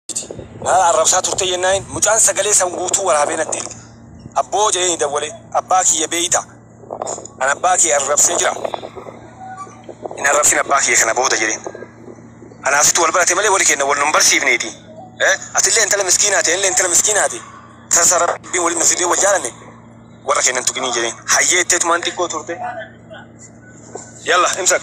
jete na arrabsaa turtee jennaanin mucaan sagalee san guutuu waraabee natti erge abboo jedheeni dawwale abbaa kiyya beeyta an abbaa kee arrabsee jira hin arrabsin abbaa kiyya kana booda jedheen anaa situ wal barate malee wali keenna wal nun barsiifneeti atillee intala miskiinaati anillee intala miskiinaati sasa rabbiin waliin nu fidee wal jaalanne warra keennan tuqinii jedheen hayyee itteetumaan xiqqoo turte yalla imsak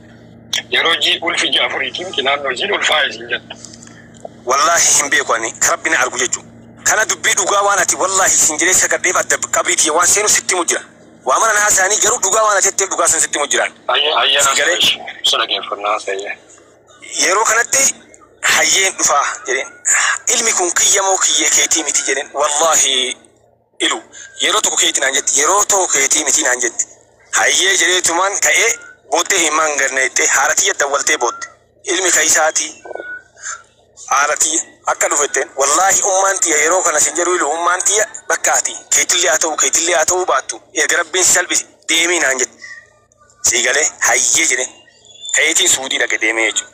Yeroo jii ulfi ji'a afuriitiin qilaan hojiin ulfaa'e isin jettu. Wallaahi hin beeku ani ka rabbi na argu jechu kana dubbii dhugaa waan ati wallaahi siin jedhee sagadheef adda qabrii tiyya waan seenu sitti himu jira waa mara na haasayanii garuu dhugaa waan ati jetteef dhugaa san sitti himu jiraan Hayyee hayyee sii galee naafi ibsa dhageeffannaa hayyee. yeroo kanatti hayyeen dhufaa jedheen ilmi kun kiyya moo kiyyee keetii miti jedheen wallaahi ilu. Yeroo tokko keeti naan jetti. Yeroo toko keetii mitii naan jetti. Hayyee jedheetumaan ka'ee booddee imimmaan gad nayxee haadha tiyya dawwaltee boodde. Ilmi kaysaati haadha tiyya akka dhufe jetteen. Wallaahi ummaan tiyya yeroo kana sin jedhu ilu ummaan tiyya bakka ati keetillee haa ta'uu keetillee haa ta'uu baattu erga rabbiin si salphise deemii naan jette. Sii galee hayyee jedheen. Ka'eetiin suudii dhaqe deemee jechuudha.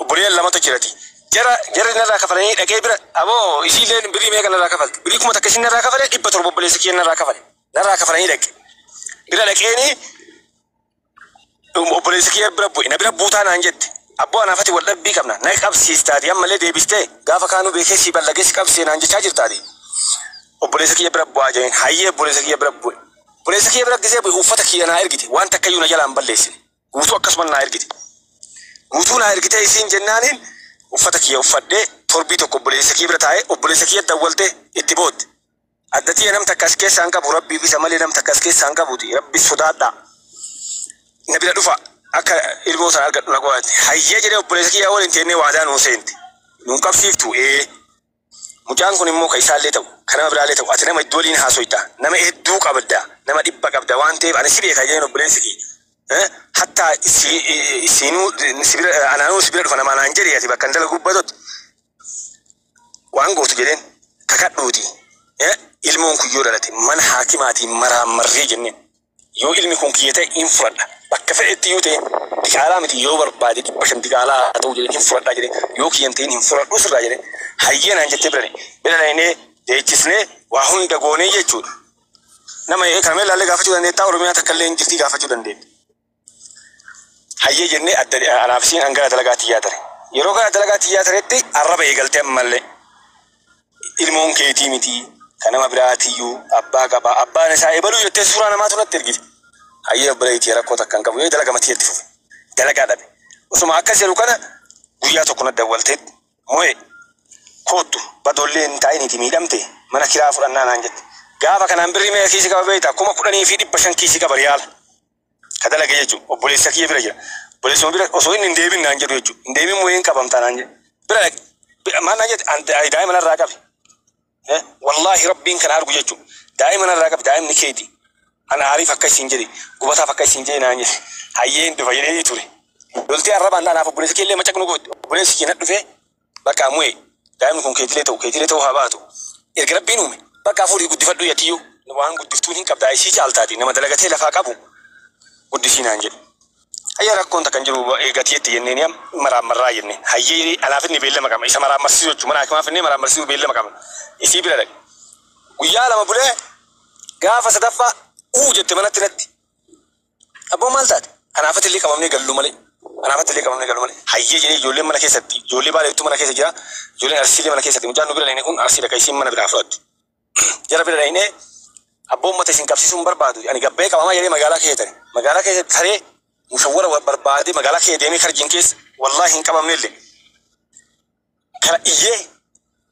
Obboleeyyan lamatu jirati. Jara jarri narraa kafalanii dhaqee bira aboo isiilleen birrii meeqa narraa kafalte? Birrii kuma takka isin narraa kafale dhibba torba obboleessa kiyya narraa kafale. Narraa kafalanii dhaqe. Bira dhaqeeni obboleessa kiyya bira bu'e. Na bira buutaa naan jette. Abboo anaaf ati wal dhabbii qabna. Na qabsiistaati ammallee deebistee gaafa kaanuu beekee si ballagee si qabsee naan jechaa jirtaati. Obboleessa kiyya bira bu'aa jedheen. Hayyee obboleessa kiyya bira bu'e. Obboleessa kiyya bira gisee bu'e uffata kiyya naa ergite. Waan takkayyuu na jalaa hin balleessine. Guutuu akkasuma naa ergite. Guutuu naa ergitee isiin jennaaniin uffata kiyya uffadhee torbii tokko obboleessa kiyya bira taa'ee obboleessa kiyya dawwalte itti bootte. Adda tiyya nam takka as keessaa hin qabu rabbiif isa malee nam takka as keessaa hin qabuti rabbi sodaadhaa. Na bira dhufa akka ilmoo sana argadhu na godhate. Hayyee jedhee obboleessa kiyya waliin teennee waadaa nuu seente. Nuun qabsiiftu ee. Mucaan kun immoo kan isaallee ta'u, kan nama biraallee ta'u ati nama hedduu waliin haasoyta, nama hedduu qabda, nama dhibba qabda waan ta'eef ani si beeka jedheen obboleessi kiyya. Hattaa isiinuu si bira anaanuu si bira dhufa namaa naan jedhe ati bakkan dalagu gubbatotti waan gootu jedheen kakadhuuti ilmoon kun yoo dhalate mana haakimaatiin maraammarree jenneen. Yoo ilmi kun kiyya ta'e hin fudhadha. Bakka fedhetti iyyuu ta'e diqaalaa miti yoo barbaade dhibba shan diqaalaa haa ta'u jedheen hin fudhadhaa jedhe yoo kiyya hin ta'in hin fudhadhuu sirraa jedhe hayyee naan jettee bira bira dhaynee deechisnee waa hunda goonee jechuudha. Nama kana mee ilaallee gaafachuu dandeettaa Oromiyaa takka illee hin jirtii gaafachuu dandeetta. Hayyee jennee adda anaaf isiin an gara dalagaa tiyyaa tare. Yeroo gara dalagaa tiyyaa taretti arraba eegalte ammallee. ilmoon keetii miti ka nama biraatiyyu abbaa qaba abbaan isaa ebalu jettee suuraa namaatu natti ergite hayyee obboleeyyi tiyya rakkoo takka hin qabu jedhee dalaga matii itti fufe dalagaa dhabe osuma akkas jedhu kana guyyaa tokko natti dawwaltee mo'e koottu badoollee hin taa'iniiti miidhamte mana kiraa fudhannaa naan jette gaafa kanaan birrii meeqa kiisii qaba beeyta kuma kudhanii fi dhibba shan kiisii qaba riyaala ka dalage jechuudha. Obboleessa kiyya bira jira. Obboleessuma bira osoo inni hin deebin naan jedhu jechuudha. Hin deebin moo hin qabamta naan jedhu. Bira dhaqe. Bi- Maal naan jette? An da- daa'ima narraa qabi. Eh, Wallaahi rabbiin kana argu jechuudha. Daa'ima narraa qabi daa'imni keeti. An aariif akka isin jedhe gubataaf akka isin jedhe naan jedhe. Hayyee hin dhufa jedhee ture. Loltee arrabaan anaaf obboleessi kee illee macaqnu goote. Obboleessi kee na dhufee Bakka mu'e daa'imni kun keetilee ta'u keetilee ta'uu haa baatu erga rabbiin uume bakka afuurii guddifadhuu yatiyyuu waan guddiftuun hin qabdaa isii caaltaati nama dalagatee lafaa qabu guddisii naan jedhe hayyee rakkoon takka hin jiru eegatii itti jenneen yam maraammarraa jenne hayyee anaaf inni beellama qabna isa maraammarsiisuu jechuun mana hakimaa finnee maraammarsiisuu beellama qabna isii bira dhaqe guyyaa lama bulee gaafa sadaffaa uu jette manatti natti Abboon maal taate? Kanaafatti illee qabamnee gallu malee. Kanaafatti illee qabamnee gallu malee. Hayyee jedhee ijoolleen mana keessatti ijoollee baaleettu mana keessa jira. Ijoolleen arsii illee mana keessatti mucaan nu bira dhayne kun arsiidha kan isiin mana biraa fudhatte. Jara bira dhaynee abboon mata isin qabsiisuu hin barbaadu. Ani gabbee qabamaa jedhee magaalaa keessa tare. Magaalaa keessa taree mushawwara barbaadee magaalaa keessa deemee karjiin keessa wallaahi hin qabamne illee. kana iyyee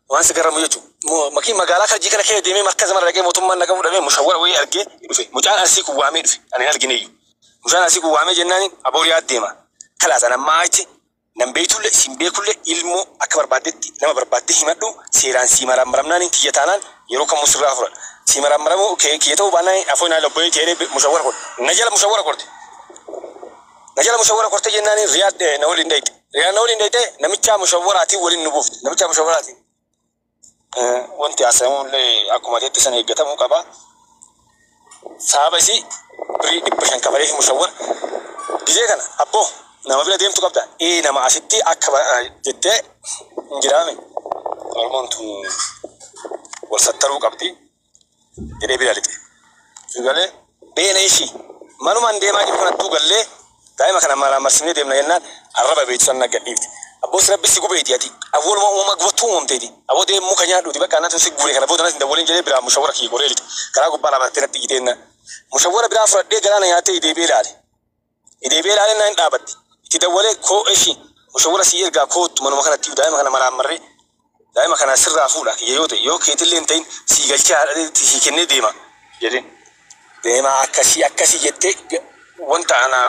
waan si garramu jechuudha. Makii magaalaa karjii kana kee deemee marka zamana dhaqee mootummaan nagaa fudhamee mushawwara wayii argee dhufe. Mucaan arsii kun waamee dhufe. Ani hin argine iyyuu. Mucaan arsii kun waamee jennaan aboor yaa deema. Kalaas an ammaa achi nan beektulle siin beekulle ilmoo akka barbaaddetti nama barbaaddee himadhu seeraan sii maraammaramnaan kiyya taanaan yeroo kamuu sirraa furan. Sii maraammaramuu kee kiyya ta'uu baannaan afoo naa lobba'ee ta'ee mushawwara korte. Na jala mushawwara korte. Na jala mushawwara korte jennaan riyaad na waliin dhayxe. Riyaa na waliin dhayxee namichaa mushawwaraatiin waliin nu buufte. Namichaa mushawwaraatiin. Wanti haasayamu illee akkuma teetti san eeggatamuu qaba. Sababa isii birii dhibba shan kafalee fi mushawwar gizee kana abboo nama bira deemtu qabda. Ee nama asitti akka jettee hin jiraame. Oromoon tun wal sattaruu qabdi. jedhee bira lixe. Si galee beene ishii manumaan deemaa jiru kanattuu gallee daa'ima kana maraamarsiifnee deemna jennaan arraba beektu san nagga dhiifte. Abboos rabbi si gubeeti ati awwaluma uumama gubattuu uumamteeti. Aboo deem muka nyaadhuuti bakka anatu si guure kana booda natti hin dawwaliin jedhee biraa mushawwara kiyya goree lixe. Karaa gubbaa lama tattee natti iyyitee jennaan mushawwara biraa fudhadhee galaana nyaatee deebi'ee ilaale. Deebi'ee ilaalee naan dhaabatte. Itti dawwalee koo eshi mushawwara sii ergaa koottu manuma kanattiyu daa'ima kana maraammarree daa'ima kana sirraa fuudha kiyya yoo ta'e yoo keetillee hin ta'in sii galchee haadhateetti sii kennee deema jedheen. Deemaa akkasii akkasii jettee wanta ana.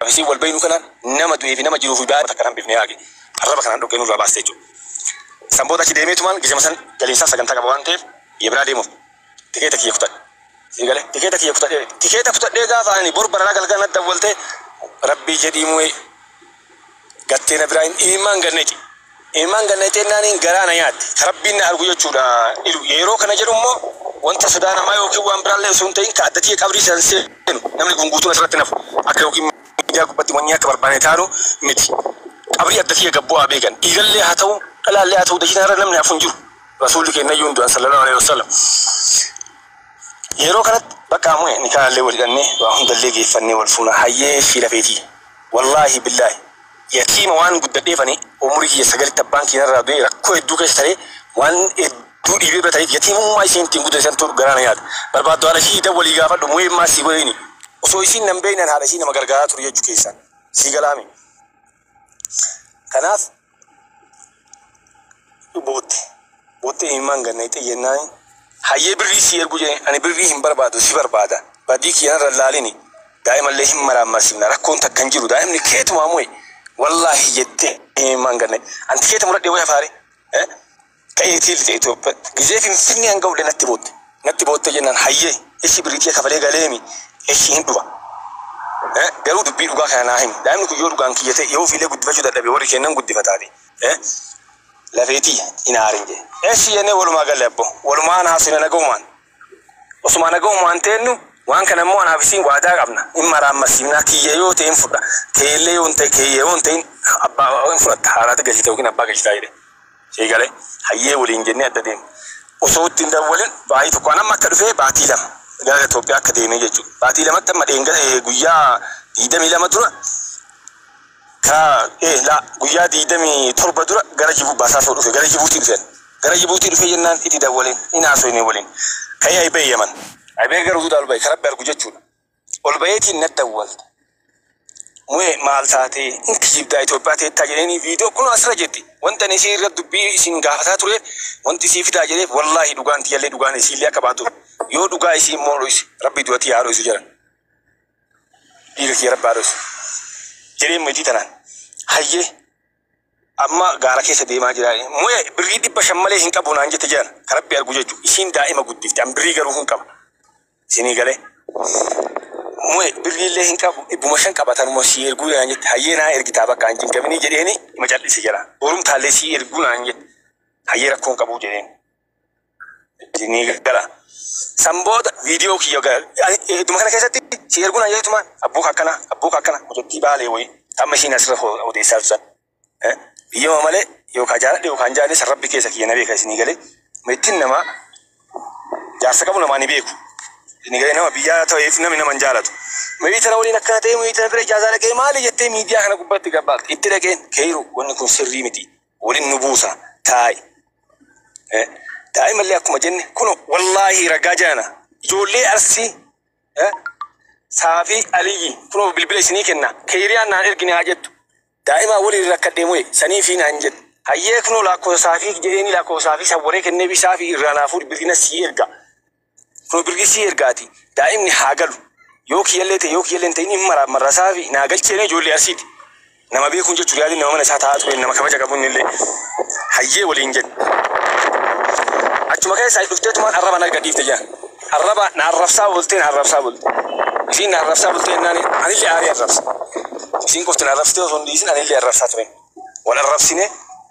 Isiin wal beeynu kana nama du'ee fi nama jiruu fi baay'ee takka hambifnee haage arraba kanaan dhoqqee nurraa baaste jechuudha. San booda achi deemee tumaan gizema san galiinsaaf sagantaa qaba waan ta'eef biyya biraa deemuuf tikeeta kiyya kutadhe. Sii galee tikeeta kiyya kutadhee tikeeta kutadhee gaafa ani bor baranaa galgala na dawwaltee rabbii jedhii mu'ee gattee na biraa hin imimaan gad nayxe imimaan gad nayxe jennaaniin garaa na nyaatte ka rabbiin na argu jechuudha ilu yeroo kana jedhu immoo wanta sodaa namaa yookiin waan biraallee osoo hin ta'in ka adda tiyya qabrii san seenu namni kun guutuun asirratti hin hafu akka yookiin miidiyaa gubbatti wannii akka barbaane taanu miti qabrii adda tiyya gad bu'aa beekan dhiigallee haa ta'u dhalaallee haa ta'u dachii tanarra namni hafu hin jiru rasuulli keennayyuu hin du'an sallallahu alaihi wasallam Yeroo kanatti bakka amue nikaahallee wal hidhannee waa hundallee geeffannee wal fuuna hayyee ishii lafeetii wallaahi billaahi yatiima waan guddadheef ani umurii kiyya sagalitti abbaan kiyya narraa du'ee rakkoo hedduu keessa taree waan hedduu dhiibee bira tareef yatiimummaa isheen ittiin guddate santu garaa na nyaata barbaaddu haadha ishii dawwalii gaafadhu muee maa sii godheeni osoo isiin nan beeyne an haadha ishii nama gargaaraa ture jechuu keessaan sii galaami. Kanaaf bootte. Boottee imimmaan gad naqxee jennaan hayyee birrii sii ergu jedheen ani birrii hin barbaadu si barbaada badii kiyya narra laalini daa'imallee hin maraammarsiifna rakkoon takka hin jiru daa'imni keetumaa mo'e wallaahi jettee imimmaan gad naqxe anti keeti muradhee way hafaare Ta'iitii lixe Itoophiyaatti. Gizee Finfinnee an ga'ullee natti bootte. Natti boottee jennaan hayyee eshi birrii tiyya kafalee galeemi eshi hin dhufa. Garuu dubbii dhugaa kana naa himi. Daa'imni kun yoo dhugaan kiyya ta'e yoo ofiillee guddifachuu dadhabe warri keennan guddifataati. Lafee tiyya hin aarin jedhe. Eshi jennee walumaa galle abboo. Walumaan haasofne nagahumaan. Osuma nagahumaan teennu, waan kana immoo anaa fi siin waadaa qabna, in maraammarsiifna, kiyya yoo ta'e in fudha, kee illee yoo hin ta'in, kee yoo hin ta'in, abbaa in fudhatta, haadhaatti galchita yookiin abbaa galchitaa jedheen. Sii galee? Hayyee waliin jennee adda deemne. Osoo itti hin dawwalin baatii tokko, an amma akka dhufee baatii lama gara Itoophiyaa akka deemee jechuudha. Baatii lamatti amma dheengadee guyyaa 22 dura, Ka, ee, la, guyyaa digdamii torba dura gara Jibu, Basaasoo dhufe, gara Jibuutii dhufe ani. Gara Jibuutii dhufee jennaan iti dawwaleen, hin haasoynee waliin. Ka'ee ayi bahe Yaman. Ayi bahee gara Huduudaa ol bahe, ka Rabbi argu jechuu dha. Ol baheetiin nat dawwalte. Mu'ee, maal taatee? Hin kijibdaa, Itoophiyaa teettaa jedheenii viidiyoo kunoo as irra jirti. Wanti ani isii irra dubbii isin gaafataa ture, wanti isii fidaa jedheef, wallaahi dhugaan tiyyallee dhugaan isiillee akka baatuuf. Yoo dhugaa isii immoo dhoyse, Rabbi du'a tiyya haa dhoysu jedhan. dhiiga kiyya rabbi haa dhoysu jedheen meetii tanaan hayyee amma gaara keessa deemaa jira mu'e birrii dhibba shan malee hin qabu naan jette jedhan ka rabbi argu jechu isiin daa'ima guddifte an birrii garuu hin qaba isinii galee mu'e birrii illee hin qabu dhibbuma shan qaba tanuma sii erguu naan jette hayyee naa ergitaa bakka an jingaminii jedheeni ima cal'ise jala borumtaallee sii erguu naan jette hayyee rakkoon qabuu jedheen Dinii gala. San booda viidiyoo kiyya ga- ani idduma kana keessatti si erguun hayyeetuma abbuu akkana abbuu akkana mucattii baalee wayii tamma ishiin asirra ho- odeessaa tusan. Eh, Biyyama malee yookaan jaaladhe yookaan jaalle san rabbi keessa kiyya na beeka isinii galee mittiin namaa jaarsa qabu namaa ni beeku. Isinii galee nama biyyaa ta'eef namni nama hin jaalatu. Mirii tana waliin akkana ta'e mirii tana bira ijaasaa dhaqee maali jettee miidiyaa kana gubbatti gabbaaqte itti dhaqeen keeyiru wanni kun sirrii miti. Wolin nu buusa taa'i. Eh, Daa'imallee akkuma jenne kuno wallaahi ragaa jaana ijoollee arsii eh, saafii aliyyi kuno bilbila isinii kenna keeyriyaan naan ergine haa jettu daa'imaa waliin rakkadhee mo'e sanii fi naan jedhe hayyee kuno laakkoofsa saafii jedheeni laakkoofsa saafii sawwaree kennee fi saafii irraa naa fuudhi bilbila sii erga Kunoo birgisii erga ati daa'imni haa galu yoo kiyyallee ta'e yoo kiyyallee hin ta'in hin maraaf marrasaa fi naa galchee mee ijoollee arsiiti nama beekuun jechuun yaadin nama mana isaa taa'aa tureen nama kabaja qabu innillee hayyee waliin jedhe achuma keessaa itti dhufteetumaan arraba narga dhiifte jaa arraba na arrabsaa bultee na arrabsaa bulte isiin na arrabsaa bultee jennaan anillee aarii arrabse isiin qofti na arrabsitee osoo hin dhiisin anillee arrabsaa tureen wal arrabsinee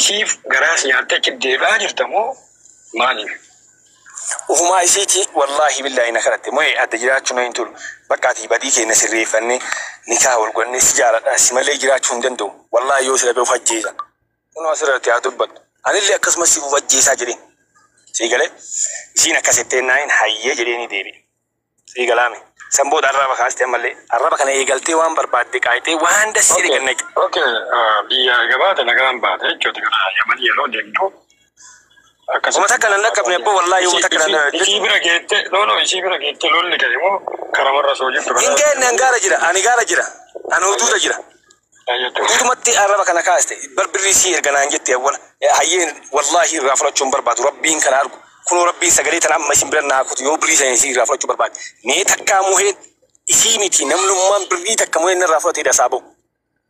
Isiif garaas nyaattee cibdeedhaa jirta moo maaliif? Ufumaa isiiti wallaahi billaahi na kadhatte moe adda jiraachuun na hin tolu bakka ati badii keenya sirreeffannee nikaah wal godhannee si jaaladha si malee jiraachuu hin danda'u wallaahi yoo si dhabe of ajjeesa kunoo as irratti haa dubbattu anillee akkasuma si of ajjeesaa jedheen sii galee isiin akkas jetteennaanin hayyee jedheenii deebi'e. Sii galaame. San booda arraba kaaste ammallee. Arraba kana eegaltee waan barbaadde qaayxee waan dassi jedhe Okay, gannaqi. okay. ah, Biyya gabaate nagaan baate jechuuti gara Yaman yeroo deemtu Homa akkasitti takka nan dhaqqabne abboo wallaahi homa takka nan isii isii bira geette no no isii bira geette lolli ka'e moo karamarra soo jirtu Hin geenye an gaara jira ani gaara jira ani huduuda jira. Guutumatti arraba kana kaaste bar birrii sii erga naan jette awwala hayyee wallaahi irraa fudhachuu hin barbaadu rabbiin kana argu kunoo rabbiin sagalee tana amma isin bira naa kutu yoo birrii sana isii irraa fudhachuu barbaade mee takkaa muheen isii miti namlummaan birrii takka muheen narraa fudhatee dasaa ba'u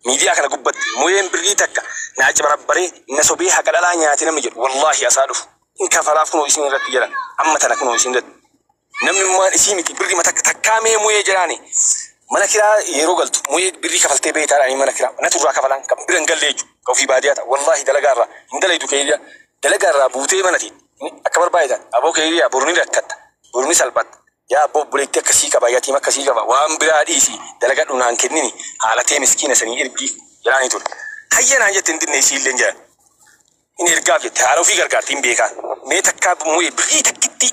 miidiyaa kana gubbatti muheen birrii takka naa cibarabbaree na sobee haqa dhalaa nyaate namni jedhu wallaahi asaa dhufu hin kafalaaf kunoo isin irratti jedhan amma tana kunoo isin irratti Namni mumaan isii miti birri mata takkaa mee muyee jiraani mana kiraa yeroo galtu muyee birrii kafaltee beeytaa dhaanii mana kiraa natu irraa kafalaan kan bira hin galle jechu kan ofii baadiyaa ta'a wallaahi dalagaa irraa hin dalaydu keeyriyaa dalagaa irraa buutee mana tiin akka barbaadetan aboo keeyriyaa boru ni rakkatta boru ni salphatta yaa abboo obboleettii akkasii qaba yatiim akkasii qaba waan biraa dhiisi dalagadhu naan kennini haalatee miskiina sanii ergii jiraanii ture hayya naan jette hin dinne isii illee jedhan hin ergaaf jette haala ofii gargaarti hin beekaa mee takkaa muyee birrii takkittii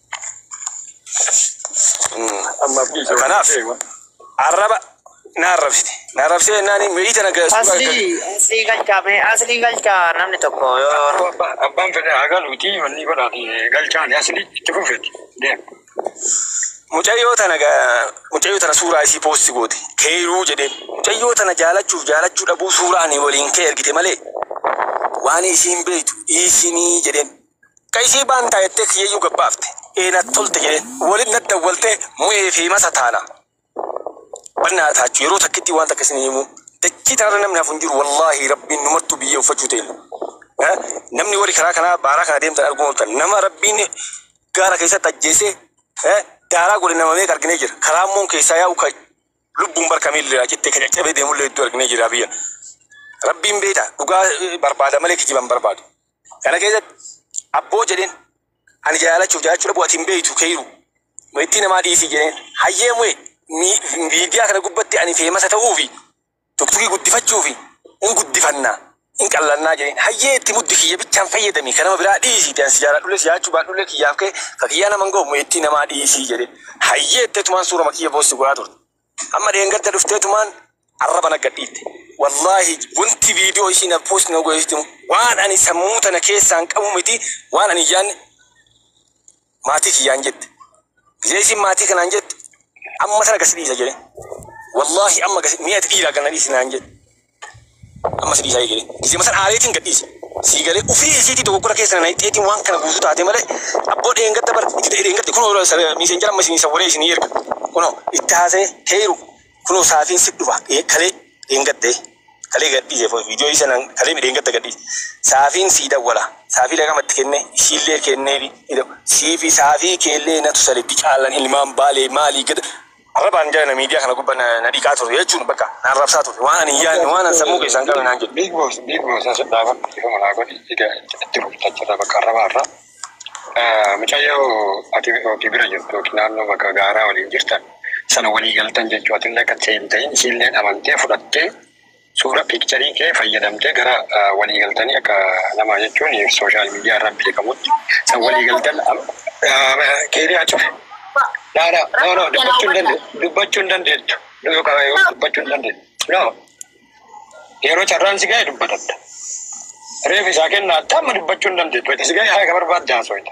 Kanaaf arraba na arrabsite. Na arrabsee jennaan mi'ii tana ga'e suuraa Asli, gaggeessu. asli galcha me, asli galcha namni tokko yoo Abba- Abbaan fedhe haa galuuti wanni godhaati galchaani asli itti fufeeti deem. Mucayyoo tana ga- mucayyoo tana suuraa isii poosti goote keeyruu jedheen. Mucayyoo tana jaalachuuf jaalachuu dhabuu suuraa ani waliin kee ergite malee waan isiin beeytu dhiisinii jedheen. Ka isii baan taa jettee kiyyayyuu gad baafte. Ee nat tolte jedheen. Walitti nat dawwaltee Mu'ee fi Masa taana. Bal naa taachu yeroo takkittii waan takka isinii himuu. Dachii tanarra namni hafu hin jiru wallaahii Rabbiin numartuu biyyee uffachuu teenya. Haa? Namni warri karaa kanaa baaraa kana deemtan arguu maltan. Nama Rabbiin gaara keessatti ajjeesee haa? daaraa godhe nama meeqa arginee jirra. Ka raammoon keessaa yaa'u ka lubbuun bar ka miilli irraa cittee ka caccabee deemullee hedduu arginee jirra biyya. Rabbiin beekaa dhugaa barbaada malee kijiba hin barbaadu. Kana keessatti abboo jedheen ani jaalachuuf jaalachuu dhabu ati hin beektu keeyiru ittii namaa dhiisii jedheen hayyee mu'e miidiyaa kana gubbatti ani feemasa ta'uu fi tuktugii guddifachuu fi hin guddifanna hin qallannaa jedheen hayyee itti muddi kiyya bichaan fayyadami kan nama biraa dhiisii itti ansi jaaladhullee si jaalachuu baadhullee kiyyaaf kee ka kiyyaa nama hin ga'u mu'e ittii namaa dhiisii jedheen hayyee itti tumaan suurama kiyya poostii godhaa turte Amma dheengadda dhufteetumaan arraba na gadhiitte. Wallaahi wanti viidiyoo ishiin na post na godhesitti waan ani sammuu tana keessaan qabu miti waan ani yaanne maatii kiyyaan jette. Biyya ishiin maatii kanaan jette amma tana gasi dhiisa jedhe. Wallaahi amma gasi mi'a dhiiraa gana dhiisi naan jette. Amma si dhiisaa eegale. Gizema san haaleetiin gad dhiise. Sii galee ufii isiitii dogoggora keessa na naqxeetiin waan kana guutuu taatee malee abboo dheengadda bar itti ta'e dheengadda kunoo miiseenjara amma isinii sawwaree isinii erga. Kunoo itti haasa'e keeru kunoo saatiin si dhufa Ee, kalee dheengadde kalee gad dhiise fo- viidiyoo isa nan kalee dheengadda gad dhiise. Saafiin sii dawwala. Saafii lagama itti kenne ishiillee kenneefi ni daw- siifi saafii keellee natu sale dicaalan ilmaan baalee maalii gada Arrabaan jara na miidiyaa kana gubba na na dhiqaa ture jechuun bakka na arrabsaa ture. Waan ani hin yaadne waan ani sammuu keessaa hin qabne naan jedhe. Big boss big boss as dhaabadhu dhiifama naa godhi ega itti rukuttaa jirra bakka arrabaa irraa. Mucayyoo ati ofi bira jirtu yookiin naannoo bakka gaaraa waliin jirtan sana walii galtan jechuu atillee akka itti seentee isiilleen amantee fudhattee Suura piikcharii kee fayyadamtee gara waliigaltanii akka nama jechuun sooshaal miidiyaa irra beekamutti san waliigaltan keeriyaa cufe. No, no, no, no, dubbachuu hin dande- dubbachuu hin dandeettu. Yoo qaba- yoo dubbachuu hin dandeettu. No. Yeroo carraan si ga'e dubbatatta. Reef isaa kennaatta amma dubbachuu hin dandeettu. Wayita si ga'e haqa barbaadde haasofta.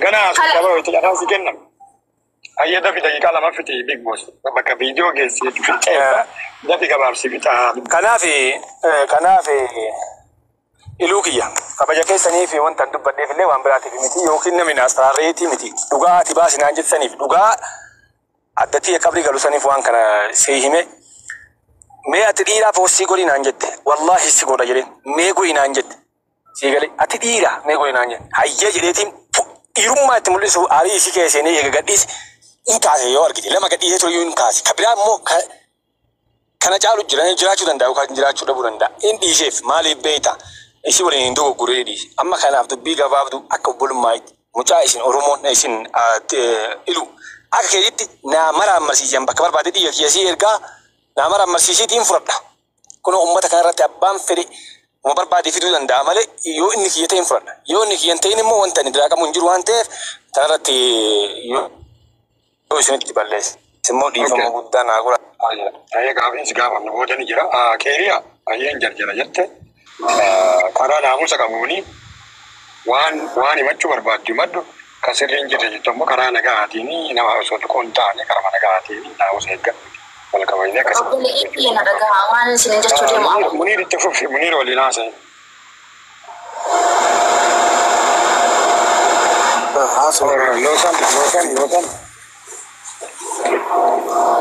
Ganaa as Kala- dabaroo itti carraan si kenna. Hayyee dafi daqiiqaa lama fixi big boss. Bakka viidiyoo geessee fixeessa. Dafi gabaabsi fixaa. Kanaaf kanaaf iluu kiyya kabaja keessaniif wanta hin dubbadheef illee waan biraatiif miti yookiin namni naas taraareetii miti dhugaa ati baasi naan jettaniif dhugaa addattii qabrii galu saniif waan kana si hime mee ati dhiiraa poostii godhi naan jette wallaahi si godha jedheen mee godhi naan jette Sii galee ati dhiira mee godhi naan jedhe. Hayyee jedheetiin fu- dhiirummaa itti mul'isuuf aarii isii keessa seenee eega gadhiise in kaase yoo argite lama gadhiisee ture iyyuu in kaase ka biraa immoo ka kana caalu jira jiraachuu danda'a yookaan jiraachuu dhabuu danda'a in dhiiseef maaliif beekta isii waliin hin dogoggore jedhee dhiise amma kanaaf dubbii gabaabdu akka obbolummaatti mucaa isin oromoon isin ah, te- ilu akka keetitti naa maraammarsiisan bakka barbaade dhiiga kiyya sii ergaa naa maraammarsiisiitiin fudhadha Kunoo ummata kana irratti abbaan fedhe wama barbaade fiduu danda'a malee yoo inni kiyya ta'e hin fudhadha. Yoo inni kiyya hin ta'in immoo wanta ani diraaqamu hin jiru waan ta'eef kana irratti yoo isinitti balleesse immoo dhiifama guddaa naa godhaa. Hayyee gaafiin si gaafannu booda ni jira. Keeriyaa, Hayyeen jarjara jette. Karaa naamusa qabuuni waan waan himachuu barbaaddu himadhu, ka sirri hin jirre jettu ammoo karaa nagahaatiini nama osoo tuquu hin taane karuma nagahaatiini naamusa eeggadhu wal kabajnee akka sirritti Obboleeyyan hojjechuu tiyya na qabna. dhagahaa waanan isiniin jechuu deemu Muniir ammoo. Muniir itti fufi Muniir waliin haasa'i. Loosan Loosan Loosan.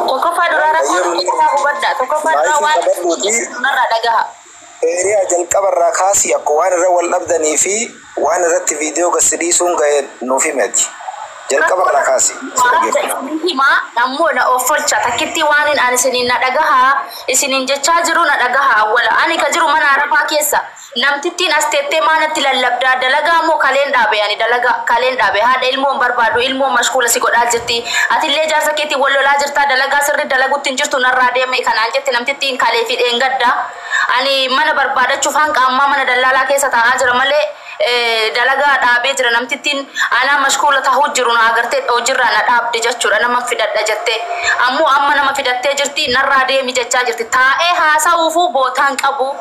Tokkoffaa duraa rakkoo tokkoffaa hubadhaa. Tokkoffaa duraa waan irraa dhagaha. Eeriyaa jalqaba irraa kaasii akka waan irra wal dhabdanii fi waan irratti viidiyoo gassi dhiisuun ga'e nuuf himati. Jalqaba irraa kaasii. Himaa ammoo na offolcha takkittii waan hin ani isiniin na dhagaha isiniin jechaa jiru na dhagaha awwala ani ka jiru mana arabaa keessa. Namtittiin as teettee maa natti lallabdaa? Dalagaa moo kaleen dhaabe ani? Dalagaa kaleen dhaabe. Haadha ilmoo hin barbaadu. Ilmoon mashkuula si godhaa jirti. Ati illee jaarsa keetiin wal lolaa jirtaa? Dalagaa sirrii dalagutti hin jirtu narraa deemi! Kan naan jette namtittiin kalee fi dheengadda. Ani mana barbaadachuuf hanqa ammaa mana dallaalaa keessa taa'aa jira malee dalagaa dhaabee jira. Namtittiin anaa mashkuula tahuu jiru na agartee hojiirraa na dhaabde jachuudha. Naman fidadha jette. Ammoo amma nama fidattee jirti. Narraa deemi jechaa jirti. Taa'ee haasawuufuu bootaan qabu.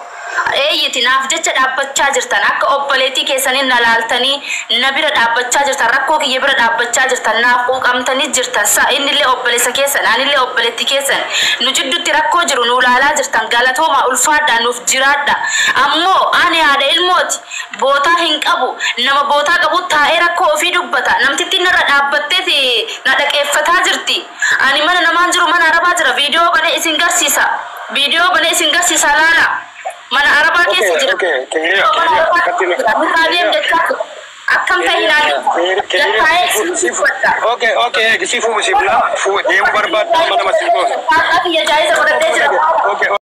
Eeyyiti, naaf jecha dhaabbachaa jirtan. Akka obboleettii keessanii na laaltanii na bira dhaabbachaa jirtan, rakkoo kiyya bira dhaabbachaa jirtan, naaf quuqamtanii jirtan. Sa, innillee obboleessa keessan, anillee obboleettii keessan. Nu jidduutti rakkoo jiru nuu laalaa jirtan. Galatoomaa, ulfaadhaa, nuuf jiraadhaa. Ammoo, ani haadha ilmooti. Bootaa hin qabu. Nama bootaa qabuut taa'ee rakkoo ofii dubbata. Namtittiin narra dhaabbatteet na dhagheeffataa jirti. Ani mana namaan jiru mana arabaa jira video bane isin garsisa video bane isin garsisa laala mana arabaa keessa jira video mana arabaa keessa jira nurraa deem jechaa jira akkam tahi naa jedhi lakkaa'ee isin dubbadha Jaa'iza fudhadhee jira.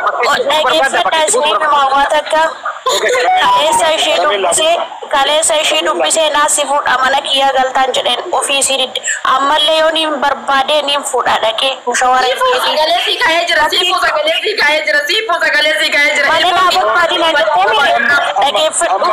Dhaggeeffadhaa siree namaa waa takka kaleessa ishii dubbisee kaleessa ishii dubbisee naa si fuudha mana kiyyaa galtaan jedheen ofii isii didde ammallee yoo niin barbaadee niin fuudha dhaqee mushawara hin Siifuu jedhiin sagalee sii kaa'ee jira. Siifuu Rabbii sagalee sii kaa'ee jira. Siifuu sagalee sii kaa'ee jira. mana naa barbaadi naan jettee mee dhaggeeffadhu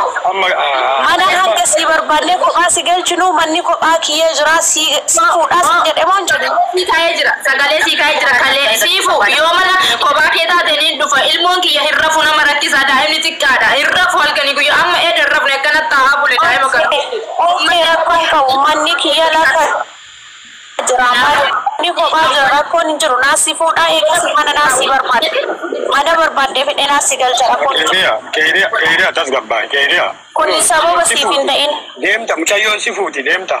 mana hanga sii barbaannee kophaa si galchinuu manni kophaa kiyya jiraa sii sii fuudhaa siin jedhe moo hin jenne Sii ka'ee jira sagalee sii ka'ee jira kalee sii fu yoo mana kophaa kee taate niin dhufa ilmoon kiyya hin rafu nama rakkisa daa'imni xiqqaadha hin rafu halkanii guyyaa amma eeda hin rafne akkana taa'aa bule daa'ima kana Uuffe rakkoo hin qabu manni kiyya lafa jira manni kophaa jira rakkoon hin jiru naa si fuudhaa eegas mana naa si barbaada mana barbaadde fedhe naa si galcha rakkoon hin jiru Keeriya, keeriya, keeriya tasgabbaa'e, keeriya. kuni sababa siif hin ta'in Deemta mucayyoon si fuuti deemta.